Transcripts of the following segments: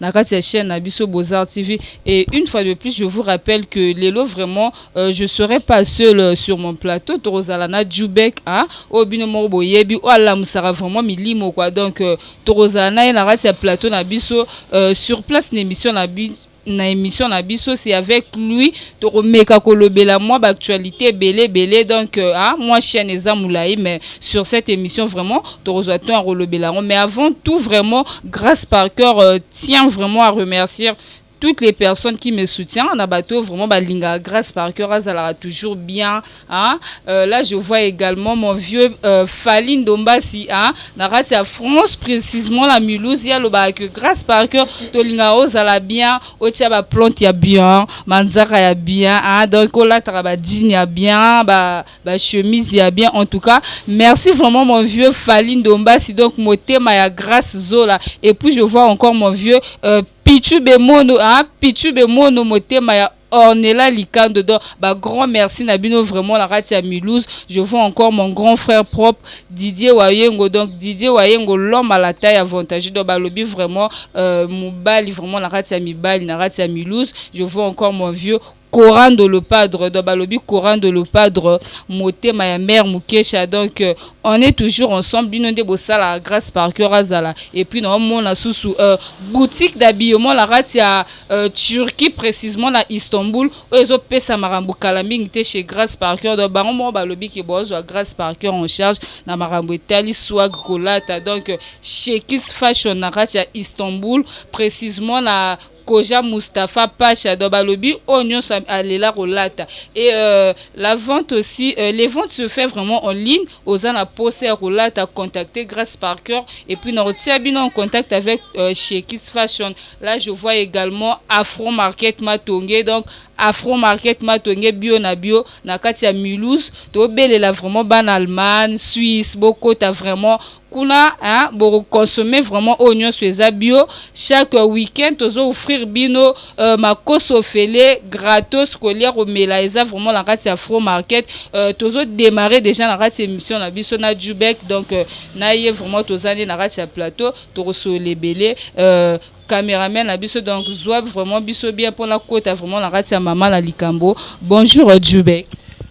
na kati ya chaîne na biso Bozar TV et une fois de plus je vous rappelle que lelo vraiment euh, je serai pas seul euh, sur mon plateau tokozala na Jubek hein oyo bino moko boyebi oyo alamusaka vraiment milimo quoi donc euh, tokozala na ye na kati ya plateau na biso euh, sur place na émission na biso na émission na biso c'est avec lui tokomeka kolobela mwa baactualité ebele ebele donc euh, ah, mwa chaîne eza molai mais sur cette émission vraiment tokozwa temps ya kolobela yango mais avant tout vraiment grâce par cœur euh, tient vraiment à remercier toutes les personnes qui me soutiennent na bato vraiment balinga grâce par cœur azalaka toujours bien hein? euh, là je vois également mon vieux euh, Fali Ndombasi hein? na kati ya France précisément la Mulhouse ye alobaka que grâce par cœur tolingaka ozala bien otia baplante ya bien manzaka ya bien hein? donc olataka badini ya bien ba, ba chemise ya bien en tout cas merci vraiment mon vieux Fally Ndombasi donc motema ya Grace Zola et puis je vois encore mon vieux euh, Pichu Bemono hein Pichu Bemono motema ya Ornella Likando donc ba grand merci na bino vraiment la kati ya Mulhouse je vois encore mon grand frère propre Didier Wayengo donc Didier Wayengo l'homme à la taille avantagée donc ba lobi vraiment euh, mobali vraiment la kati ya mibali na kati ya Mulhouse je vois encore mon vieux Corando le padre donc balobi Corando le padre motema ya mère Mukesha donc euh, on est toujours ensemble bino nde bosala grâce par cœur azala et puis na mona susu euh, boutique d'habillement la rate ya euh, Turquie précisément na Istanbul oyo ezo pesa makambo kala mingi te chez grâce par cœur donc bango moko balobi ke bozwa grâce par cœur en charge na makambo etali swag kolata donc euh, chez Kiss Fashion na rate ya Istanbul précisément na Koja Mustapha Pasha donc balobi oyo nyonso alela kolata et euh, la vente aussi euh, les ventes se fait vraiment en ligne oza na posa ya kolata contacter Grace Parker et puis na kotia bino en contact avec euh, Shekis Fashion là je vois également Afro Market Matonge donc Afro Market Matonge bio na bio na kati ya Mulhouse tobelela vraiment bana Allemagne Suisse bokota vraiment kuna hein, boko consommer vraiment oyo nyonso eza bio chaque week-end tozo offrir bino euh, makoso ofele gratos kolia komela eza vraiment na kati ya fro market euh, tozo démarrer déjà na kati émission na biso na Jubek donc euh, na ye vraiment toza nde na kati ya plateau tokosolola ebele euh, cameraman na biso donc zwa vraiment biso bien mpona kota vraiment na kati ya mama na likambo bonjour euh, Jubek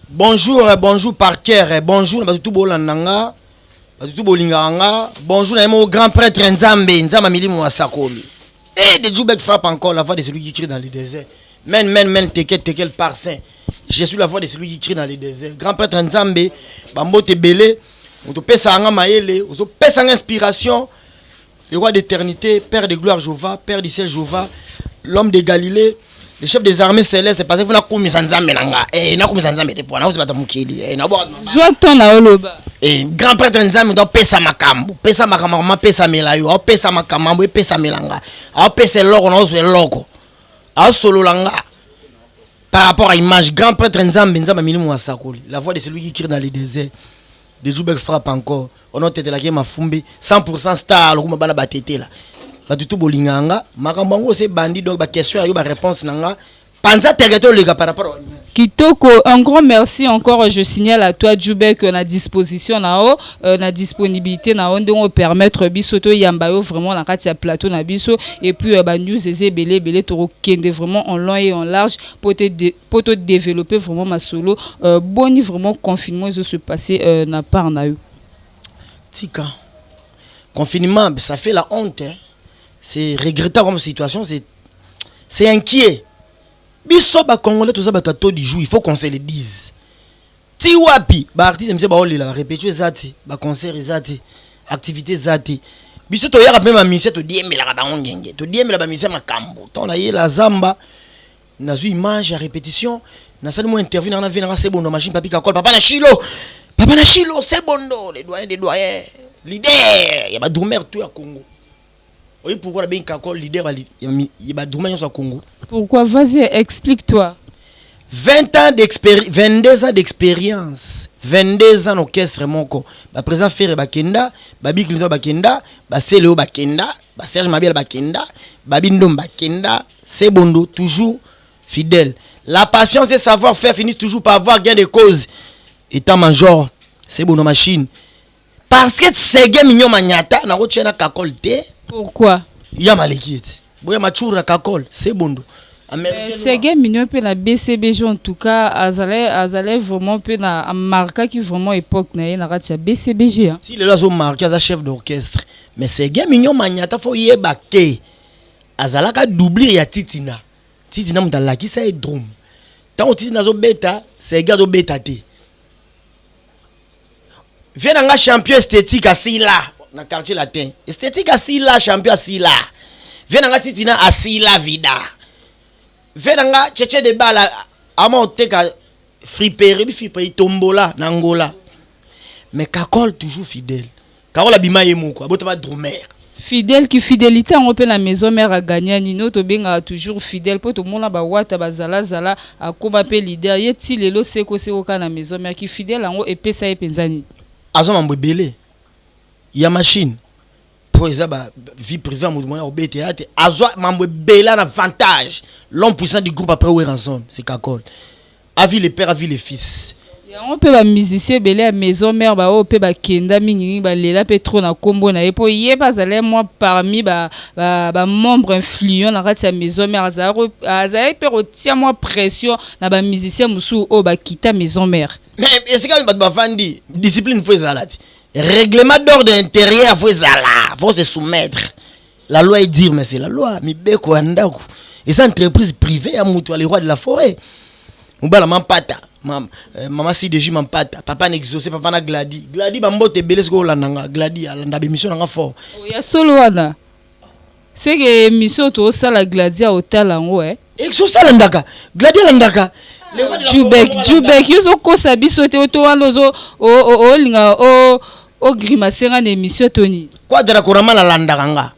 bonjour euh, bonjour par cœur euh, bonjour na bato tu bolanda nga batutu bolingaka nga bonjour na ye moko grand prêtre nzambe nzambe ya milimo asakoli et de jubek frappe encore la voix de celui qui crie dans le désert men men men tekel tekel par saint je suis la voix de celui qui crie dans le désert grand prêtre nzambe bambote ebele motopesaka nga mayele ozopesa nga inspiration le roi d'éternité, Père de gloire Jova, Père du ciel Jova, l'homme de Galilée, le chef des armées célestes, parce que vous nakumisa nzambe na nga, eh nakumisa nzambe te pona ozibata mukili, eh na bwa. Zwa ton na oloba. Eh grand prêtre nzambe doit pesa makambo, pesa makambo mama pesa melayo, au pesa makambo, pesa melanga, au pesa loko na ozwe loko. Au solo langa. Par rapport à image, grand prêtre nzambe nzambe milimu asakoli, la voix de celui qui crie dans le désert. De Jubek frappe encore on a tetela ke mafumbi 100% star lokuma bana ba tetela batu tu bolinga nga makambo yango se bandi donc ba question ya yo ba réponse na nga panza teke to leka par rapport Kitoko, un grand merci encore. Je signale à toi, Djoubek, que la disposition na haut, euh, la disponibilité na haut, donc permettre biso to yambayo vraiment la katia plateau na biso et puis euh, ba news eze belé belé toro kende vraiment en long et en large pour te po to developper vraiment masolo euh, boni vraiment confinement ezo se passer euh, na part na yo tika confinement ça fait la honte hein. c'est regrettable comme situation c'est c'est inquiet biso bacongolais toza bato ya to du jour il faut qu'on se le dise ti wapi baartiste mise baolela barepetio eza te baconcert eza te activité eza te biso toyaka mpe bamisie todiembelaka bango ngenge todiembela bamisie makambo ntango nayela zamba Nazui image ya repetition, nasali mwa interview na na vie na nga Sebondo machine papi kakol papa na Shilo. Papa na Shilo Sebondo le doyen des doyens, leader ya ba drummer tout ya Congo. Oye pourquoi na bengi kakol leader ya ba drummer nyonso ya Congo? Pourquoi? Vas-y, explique-toi. 20 ans d'expérience, 22 ans d'expérience, 22 ans d'orchestre moko. Ba présent Ferre Bakenda, ba Big Bakenda, ba Celeo Bakenda, ba Serge Mabiala bakenda babi ndom bakenda Sebondo toujours fidèle la patience et savoir faire finissent toujours par avoir gain de cause étant major Sebondo machine parce que tsege mignon manyata nakotia na kakol te pourquoi ya maleki ete boya machura kakol Sebondo Eh, sege mino mpe na bcbg en tout cas azalai azalai vraiment mpe na amarkaki vraiment époque na ye na kati ya bcbg si lelo azomarke aza chef d'orchestre Mais Serge Mignon Magnata faut yeba que azalaka doublure ya Titina. Titina mutu alakisa ye drum. Tango Titina azo beta, Serge azo beta te. Viens na nga champion esthétique asila na quartier latin. Esthétique asila champion asila. Viens na nga Titina asila vida. Viens na nga Cheche de Bala ama oteka friperie bi friperie tombola na Angola. Mais Kakol toujours fidèle. Carole abima ye moko abotama drumeur. Fidèle ki fidelite yango pe na maison mère a gagna nini oyo tobengaka toujours fidèle po tomona ba wata ba zala zala akoma pe leader ye ti lelo seko seko kaka na maison mère ki fidèle yango epesa ye penza nini? Aza mambo ebele ya machine po eza ba vie privee ya mutu mwana kobe theatre azwa mambo ebele na vantage l'homme puissant du groupe après werrason c'est kakol Avis le père, avis le fils. Yango pe ba musiciens ebele ya maison mère ba oyo pe bakenda mingi mingi balela pe trop na kombo na ye po ye pe azalaki mwa parmi ba, ba, ba membre influent na kati ya maison mère azalaki azalaki pe kotia mwa pression na ba musiciens mosusu oyo bakita maison mère. Mais esika bato bavandi discipline faut ezala ti. Règlement d'ordre intérieur faut ezala, faut se soumettre. la loi est dire mais c'est la loi mibeko ya ndako eza entreprise privée ya moto ya le roi de la forêt mobala mampata mama euh, mama cdg mampata papa na exaucé papa na gladi gladi bambote ebele soki olanda nga gladi alanda bemission na nga fort ya solo wana seke emission tosala gladi aotala yango eh. exos alandaka gladi alandaka jubek jubek yo ozokosa biso te oto wana ozo olinga ogrimace nga na émission to nini quadra korama nalandaka nga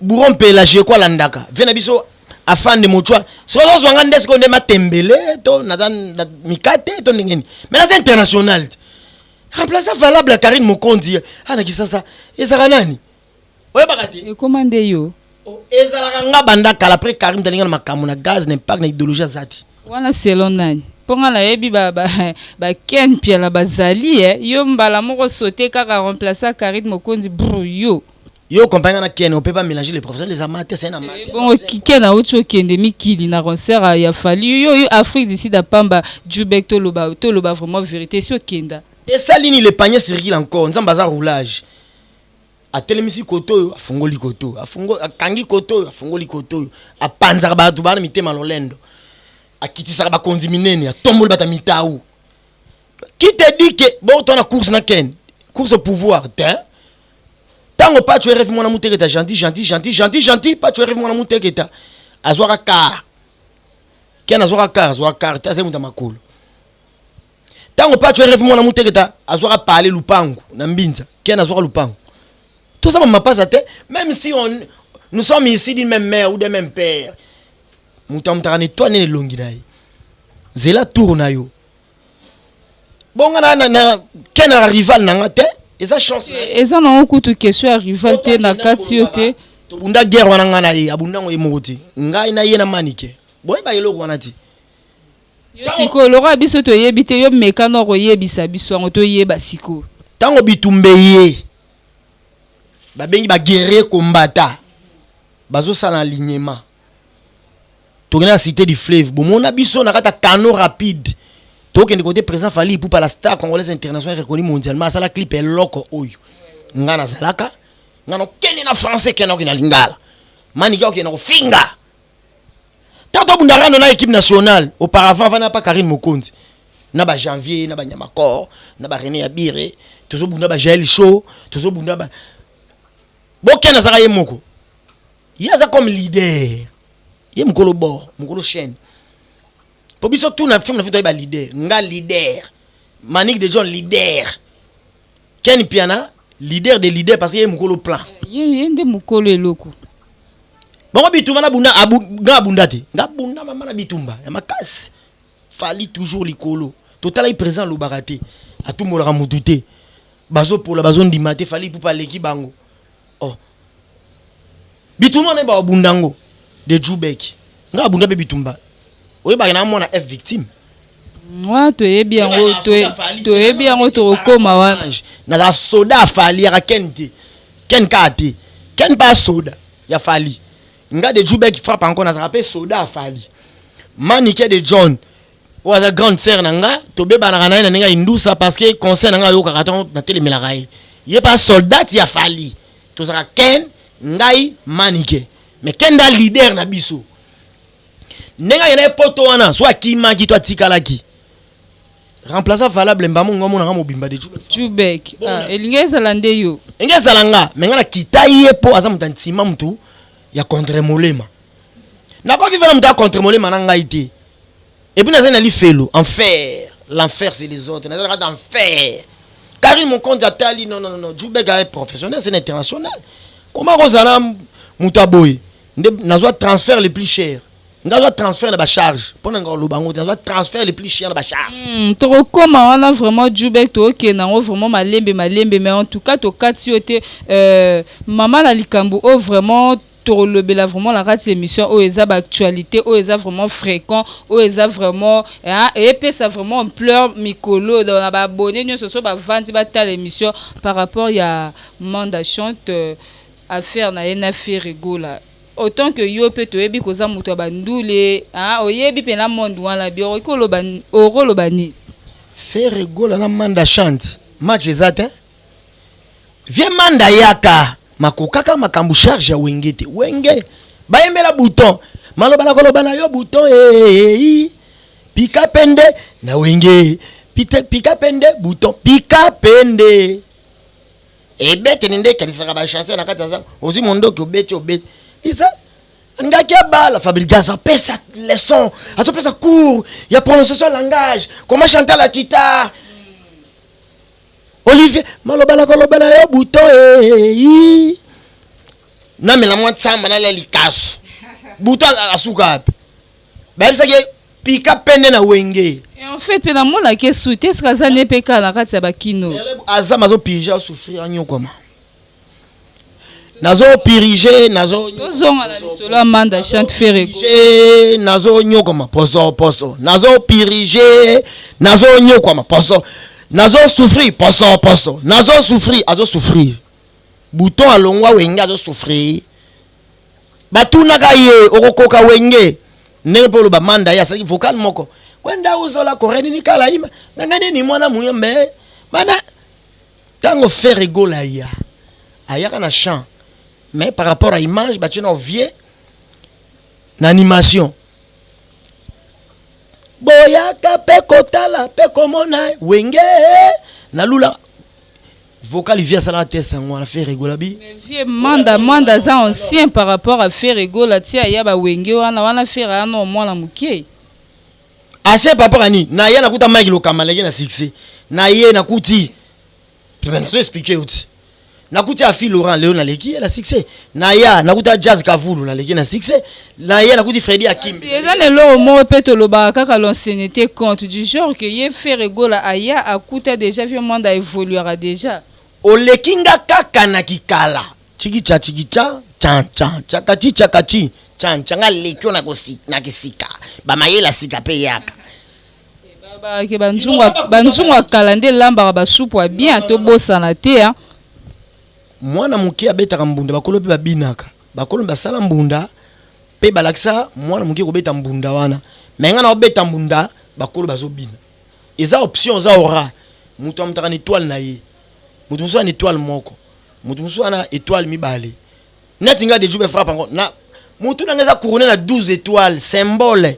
buron mpe elage eko alandaka vie na biso afande mochwa soki ozozwa nga nde sikoyo nde matembele to naza mikate to ndenge nini mai naza international te remplaça valable ya karine mokonzi ana kisasa ezaka nani oyebaka te ekoma nde yo oh, ezalaka nga banda kala après Karim dalinga na makambo na gaz na impact na idéologie azati wana selon nani mpo nga nayebi baken ba, mpiala bazali eh. yo mbala moko sote kaka remplace carine mokonzi bru yo yo compagnie na ken opepa mélanger les professionnels les amateurs c'est na eh, bongo ken auti okende mikili na concert ya fali yo yo afrique du sud apamba jubek toloba toloba vraiment vérité si okenda esali nini le panier circule encore nzambe aza roulage atelemisi koto oyo afungoli koto oyo afungoli akangi koto oyo afungoli koto oyo apanzaka bato bana mitema lolendo akitisaka bakonzi minene atomboli bato ya mitau qui te dit que bokotwa na course na ken course au pouvoir te ntango pacho erevi mwana muteketa gentil gentil gentil gentil gentil pacho erevi mwana muteketa azwaka car ken azwaka car azwaka car te azali moto ya makolo ntango pacho rf mwana muteketa azwaka pale lupangu na mbinza ken azwaka lupangu toza bamapasa te même si on, nous sommes ici d'une même mère ou d'un même père moto amutaka na etwale nene elongi na ye zela tour na yo bonga na, na, na ken na rival na nga te eza chance eza nango kutu question ya rival te na kati yo te tobunda guerre wana ngai na ye abunda yango ye moko te ngai na ye na manike boyebaka eloko wana te Yo sikoyo lokola biso toyebi te yo meka na okoyebisa biso yango toyeba sikoyo. Tango bitumba eye babengi ba guerriers combattants bazosala alignement tokenda na cite du fleuve bomona biso na kati ya canaux rapide tokende kote president Fally Ipupa la star congolaise internationale reconnue mondialement asala clip eloko oyo nga nazalaka nga nakokende na français kenda okende na lingala manike okende kofinga Tant que bunda rando na équipe nationale, auparavant avant n'a pas Karine Mokonzi, na ba Janvier, na ba Nyamakor, na ba René Abire, tozo bunda ba Jael Show, tozo bunda ba Boken azaka ye moko. Ye aza comme leader. Ye mukolo bord, mukolo chaîne. Po biso tout na film na fito ba leader, nga leader. Manik de John leader. Ken Mpiana leader de leader parce que ye mukolo plan. Eh, ye ye nde mukolo eloko. Bango bitumba na bunda abu, nga bunda te. Nga bunda mama na bitumba ya makasi. Fali toujours likolo. Totala ye président lobaka te. Atumbolaka mutu te. Bazo pola bazo ndima te fali pupa leki bango. Oh bitumba naye ba bunda ngo de dju beki nga abunda pe bitumba oyebaki na mwana f victime wana toyebi yango toyebi yango tokokoma wana naza soda ya fali yaka ken te ken kaka te ken pa soda ya fali nga de jubek frappe encore nazalaka mpe soda ya fali manike de john oyo aza grande sœur na nga tobebanaka na ye na ndenge ya indusa parce que conseil na nga ayokaka ntango natelemelaka ye ye mpe soldat ya fali tozalaka ken ngai manike mais ken nda leader na biso ndenge ayenda ye poto wana so akimaki to atikalaki remplaçant valable mbamo ngo amonaka mobimba de jubek ah, elingi ezala nde yo elingi ezala nga me nga nakita ye mpo aza moto ya nsima motu ya contre molema nakoki vana moto ya contre molema na ngai te Et puis nazali na lifelo enfer l'enfer c'est les autres nazali na kati ya enfer Karine Mokonzi atali non non non Jubek aye professionnel c'est international koma kozala moto ya boye nde nazwa transfert le plus cher nga azwa transfert na bacharge mpo na nga oloba yango te nazwa transfert le plus cher na bacharge mm, tokokoma wana vraiment jubek tookende yango vraiment malembe malembe mais en tout cas tokati yo te euh, mama na likambo oyo vraiment tokolobela vraiment na kati émission oyo eza baactualité oyo eza vraiment fréquent oyo eza vraiment hein, epesa vraiment ampleur mikolo donc na baabonne nyonso so bavandi batala émission par rapport ya manda chante euh, affaire na ye na ferigola autant que yo mpe toyebi koza moto ya bandule hein, oyebi mpe na monde wana bi okoki koloba nini ferigola na manda chante match eza te Vieux Manda yaka makokaka makambo charge ya wenge te wenge bayembela bouton maloba na koloba na yo bouton eei pika pende na wenge pite pika pende bouton pika pende ebetene nde ekanisaka bachanse na kati ya zamba ozwi mondoki obeti obeti isa ngaki abala fabriga azopesa leçon azopesa cours ya prononciation langage comment chante la guitare Olivier, maloba na koloba na yo buto ee. Eh, namela mwa nsamba nalia likasu. Buto asuka wapi? Bayebisaki ye pika pende na wenge. En fait mpe namonaki esu te eske aza nde mpe kala na kati ya bakino. Aza mazopirge asouffrir anyokwama. nazo pirige nazo tozonga na lisolo ya manda chante fere nazo nyokoma poso poso nazo pirige nazo nyokwama poso nazo souffrir poso poso nazo souffrir azo souffrir bouton alongwa wenge azo souffrir batunaka ye okokoka wenge ndenge mpe oloba manda ye asalaki vocal moko kwenda uzola korenini kala ima nanga nini mwana muyombe mana Tango Ferre Gola aya, ayaka na chant mais par rapport à image batie na vieux na animation boyaka pe kotala pe komona wenge na lula vocal vie asala test yango wana Ferre Gola bi vieux manda manda aza ancien par rapport à Ferre Gola tia ya ba wenge wana wana Ferre wana mwana mukie Ase papa kani na ya nakuta Mike Lokamba leki na succès na ye nakuti na zo expliquer yo ti nakuti afi Laurent leo naleki ye na succès na ya nakuta Jazz Kavulu naleki na succès na ye nakuti Freddy Akim si eza na eloko moko pe tolobaka kaka l'ancienneté compte du genre que ye Ferre Gola aya akuta déjà vieux Mwanda evoluaka déjà oleki nga kaka na kikala Chikicha chikicha chan chan chakachi chakachi chan chan nga lekyo na kosi na kisika ba mayela sika pe yaka bayake banzungu ya kala nde elambaka basupu ya bien tobosana te hein. mwana moke abetaka mbunda bakolo mpe babinaka bakolo basala mbunda mpe balakisa mwana moke kobeta mbunda wana me ngai naobeta mbunda bakolo bazobina eza option eza ora moto amutaka na etoile na ye moto mosusu ana etoile moko Mutu mususu wana etoile mibale. Neti nga de jube frappe encore na mutu nanga eza couronne na 12 étoiles symbole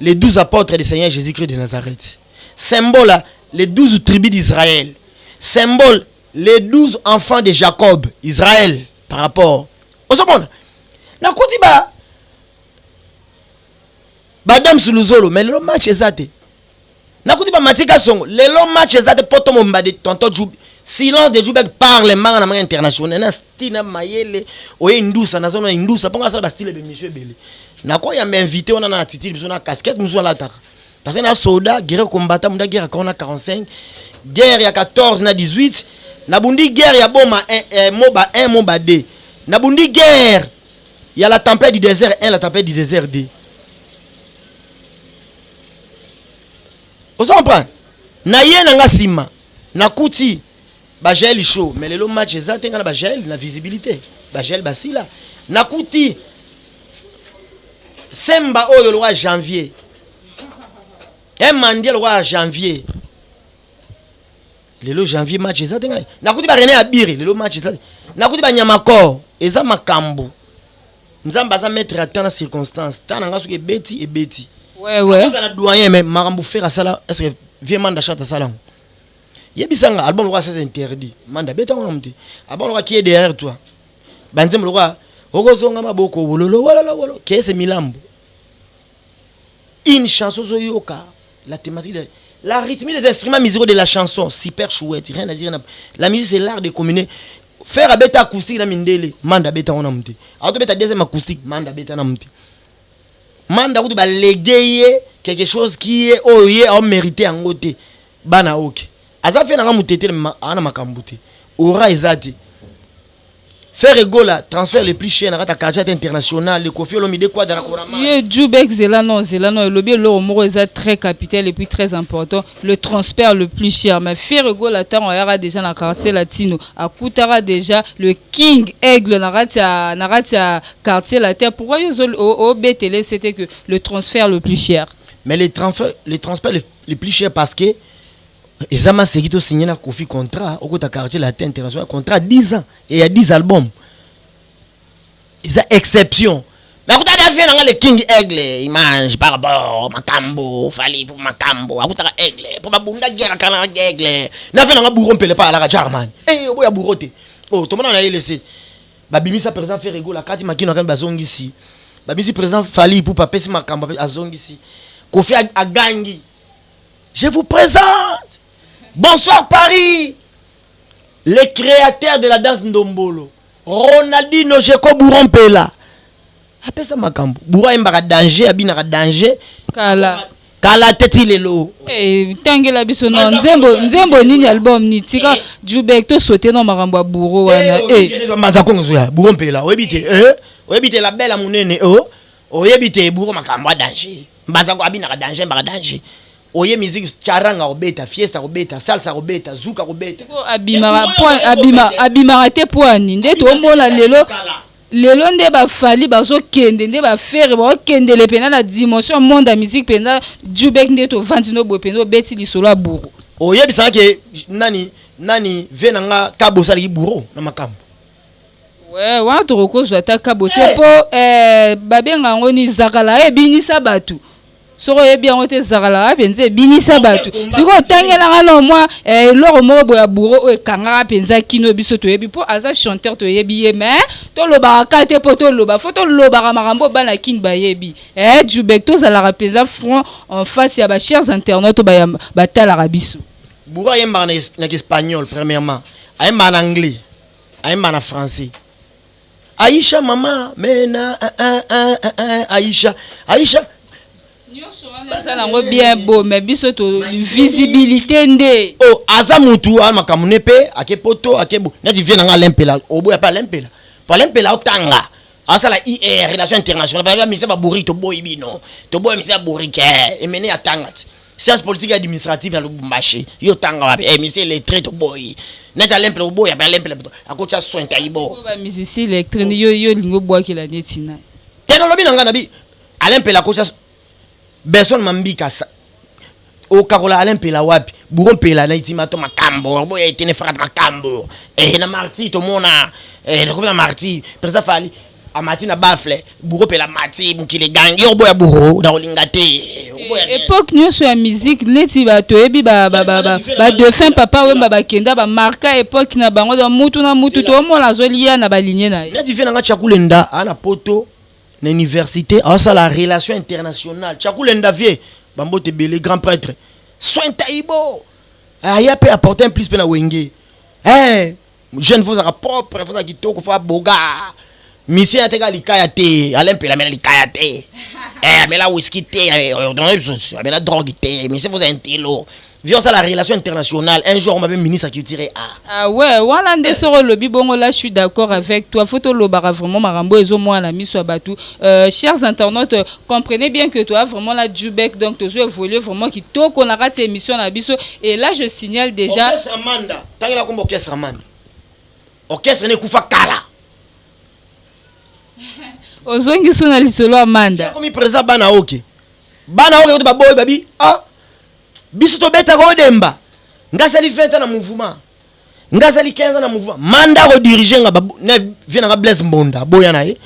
les 12 apôtres du Seigneur Jésus-Christ de Nazareth. Symbole les 12 tribus d'Israël. Symbole les 12 enfants de Jacob, Israël par rapport. Osomona nakuti ba Madame Suluzolo mais le match eza te. Nakuti ba Mathieu Kasongo lelo match eza te poto momba de tonton Djoubi silence de Djoubek parle mbanga na mbanga international na style na mayele oye indusa nazo na indusa mpo ngasala ba style bemission ebele nakoyamba invité wana na attitude biso na casquette mosusu alataka parce que na soda guerre combattant munda guerre akao na 45 guerre ya 14 na 18 nabundi guerre ya boma eh, eh, moba 1 moba 2 nabundi guerre ya la tempête du désert 1 la tempête du désert 2 ozo comprendre na ye na nga nsima nakuti bajael show mais lelo match eza te nga na bajael na visibilité bajael basila nakuti semba oyo lokola janvier emandie lokola janvier lelo janvier match eza te ngai nakuti barene ya bire lelo match eza te nakuti banyamakor eza makambo nzambe aza maître ya temps na circonstance temps na nga soki ebeti ebeti azala doyen mais makambo fere asala est ce que vie manda chat asala yango yebisa nga album lokola sasa interdit manda beta yango namu te album lokola kie derrière toi banzembo lokola okozonga maboko wololo wololo wolo kese milambo Une chanson zo yoka la thématique de la rythmie des instruments musicaux de la chanson super chouette rien à dire la musique c'est l'art de communier faire abeta acoustique na mindele manda abeta wana mute auto beta deuxième acoustique manda abeta na mute manda kutu ba ye quelque chose qui est oyo ye au mérité yango te bana oke aza fe nanga mutetele ana makambo te ora eza te Ferre Gola transfert le plus cher na kata Kajat international le Koffi Olomide Quadra na Korama. Ye Jubek zela non zela non elobi eloko moko eza très capital et puis très important le transfert le plus cher mais Ferre Gola tango ayaka déjà na quartier latino akutaka déjà le king aigle na kati ya na kati ya quartier latin pourquoi yo o betele c'était que le transfert le plus cher mais le transfert le transfert le, le plus cher parce que eza maseki to signe na kofi contrat okota quartier latin international contrat 10 ans et ya 10 albums eza exception mais akutaka na vie nanga le king aigle image par rapport makambo fali po makambo akutaka aigle po babunda guerre kala na aigle na vie nanga bouro mpele pa alaka jarman e oboya bouro te o oh, tomona na ye lese babimisa président ferregola kati makino akani bazongisi babimisi président fali ipupa apesi makambo azongisi kofi agangi Je vous présente Bonsoir Paris Le créateur de la danse Ndombolo Ronaldinho Jeko Bouro Mpela apesa makambo Bouro ayembaka danger abinaka danger kala kala te ti lelo eh, tangela biso no nzembo nzembo nini album ni tika eh. jubek to sote no makambo ya bouro wana eh, manza kongo zoya bouro mpela oyebi te oyebi te la belle ya monene oyebi te bouro makambo ya danger Mbanza ko abinaka danger mbaka danger. Oye musique charanga kobeta, fiesta kobeta, salsa kobeta, zuka kobeta. Siko abimaka po abima abimaka te po ani nde tomona lelo lelo nde ba fali bazo kende nde ba fere ba kendele pena na dimension monde ya musique pena Jubek nde to vandi no boye pena obeti lisolo ya bouro. Oyebisaka ke nani nani vie na nga kabo sala ki bouro na makambo. Ouais, wana tokokozwa ata kabose mpo eh, babenga yango ni zakala ebinisa bato soko oyebi yango te zakala wapi nze ebinisa bato sikoyo otangelanga no mwa eh, eloko moko boya buro oyo ekangaka mpenza kino biso toyebi mpo aza chanteur toyebi ye mais tolobaka ka te mpo toloba fo tolobaka makambo oyo bana kini bayebi eh, jubek tozalaka mpenza front en face ya bachers internaute oyo batalaka biso buro ayembaka na, na kiespagnol premièrement ayembaka na anglais ayemba na français aisha mama mena eh, eh, eh, eh, eh, aisha aisha eza nango bien beau mais biso to visibilité nde oh aza mutu a makambo ne mpe ake poto ake bo neti vie na nga alempela oboya mpe alempela po alempela otanga asala ir relation internationale baza misa babouriki toboyi bino toboya misa ya bourike emene atanga ti science politique administrative na lubumbashi yo tanga wapi eh, musicien lettre toboyi neti alemple oboya mpe alemple akotya soin taibo bamusicien lettre yo yo olingi obwakela neti na te nalobi na ngai nabi alempele akotya benson mambika okakola alain mpela wapi buro mpela na itima to makambo boya etene fakat makambo eh, na marti tomona eh, nakobela marti président fali amati na bafle bouro pela mati mokili egangi yo oboya bouro na kolinga te epoque nyonso ya musique neti bato oyebi badefunt papa wemba bakenda bamarka epoque na bango don mutu na mutu toomona azolia na balinie na ye neti vie nanga chakulenda aa na poto na université aosala relation internationale chakulenda vie bambote ebele grand prêtre soin taibo aya mpe apporte un plus mpe na wenge eh, jeune faut ozalaka propre faut ozala kitoko faut aboga musicien ateka likaya te alain mpela amela likaya te eh, amela whisky te eh, eh, amela drogue te musicien faut ozala intelo via osala relation internationale un jour mabe ministre culture a ah ouais wana nde soko olobi bongo là je suis d'accord avec toi faut tolobaka vraiment makambo ezomona na miso ya bato euh, chers internautes comprenez bien que toi vraiment la jubek donc tozo évolue vraiment kitoko na kati ya émission na biso et là je signale déjà Amanda. Tangela kombo orchestre mani. Orchestre ne kufa kala. Ozongi sona lisolo Amanda. Komi président bana oke. Bana oke kote baboyi babi ah biso tobeta ko demba. Ngasali 20 ans na mouvement. Ngasali 15 ans na mouvement. Manda ko diriger nga na vie na nga Blaise Mbonda boya na ye.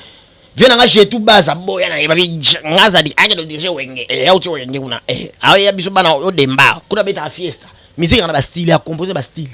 vie na nga je tout baza boya na ye babi nga zadi ake do dirige wenge eh au ti wenge kuna eh awe ya biso bana o demba kuna beta fiesta musique na ba style ya composer ba style